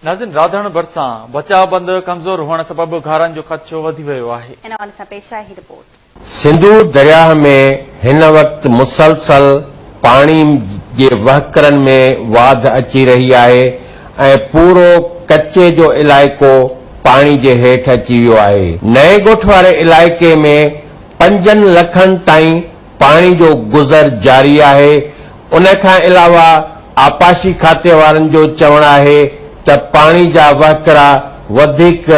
ناظرين راڌڻ ڀرسان بچاء بند ڪمزور هئڻ سبب گهارن جو خدشو وڌي ويو آهي. ان حوالي سان پيش آهي هي رپورٽ. سنڌو درياهه ۾ هن وقت مسلسل پاڻي جي وهڪرن ۾ واڌ اچي رهي آهي ۽ پورو ڪچي جو علائقو پاڻي جي هيٺ اچي ويو آهي. نئين ڳوٺ واري علائقي ۾ پنجن لکن تائين پاڻي جو گذر جاري آهي، ان کان علاوه آبپاشي کاتي وارن جو چوڻ آهي ته پاڻي جا وهڪرا وڌيڪ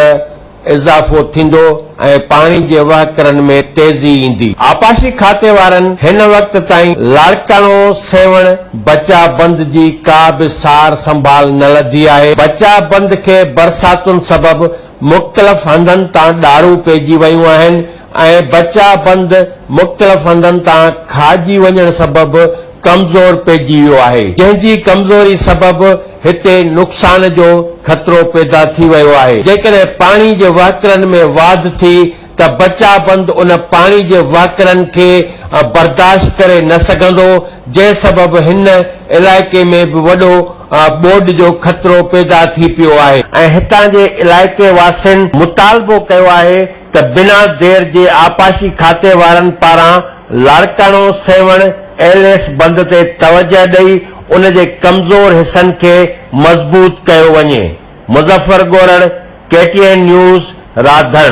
اضافو ٿيندو ۽ پاڻي جي وهڪرن ۾ تيزي ايندي. آبپاشي کاتي وارن هن وقت تائين لاڙڪاڻو سيوهڻ بچاء بند جي ڪا به سار سنڀال نه لڌي آهي، بچاء بند کي برساتن سبب مختلف هنڌن تان ڏارون پئجي ويون آهن، ۽ بچا بند مختلف هنڌن تان کاهجي وڃڻ سبب ڪمزور پئجي ويو آهي، جنهن جي ڪمزوري سبب هتي نقصان جو خطرو پيدا ٿي ويو آهي، جيڪڏهن پاڻي جي وهڪرن ۾ واڌ ٿي ته بچا بند ان پاڻي جي وهڪرن کي برداشت ڪري نه سگهندو، جنهن سبب هن علائقي ۾ به وڏو ٻوڏ جو خطرو پيدا ٿي پيو آهي. ۽ هتان جي علائقي واسين مطالبو ڪيو آهي ته بنا دير جي آبپاشي کاتي وارن پاران لاڙڪاڻو سيوهڻ ايل ايس بند تي توجهه ڏئي ان جي ڪمزور حصن کي مضبوط ڪيو وڃي. Muzaffar Gorar, K T N news, Radhan.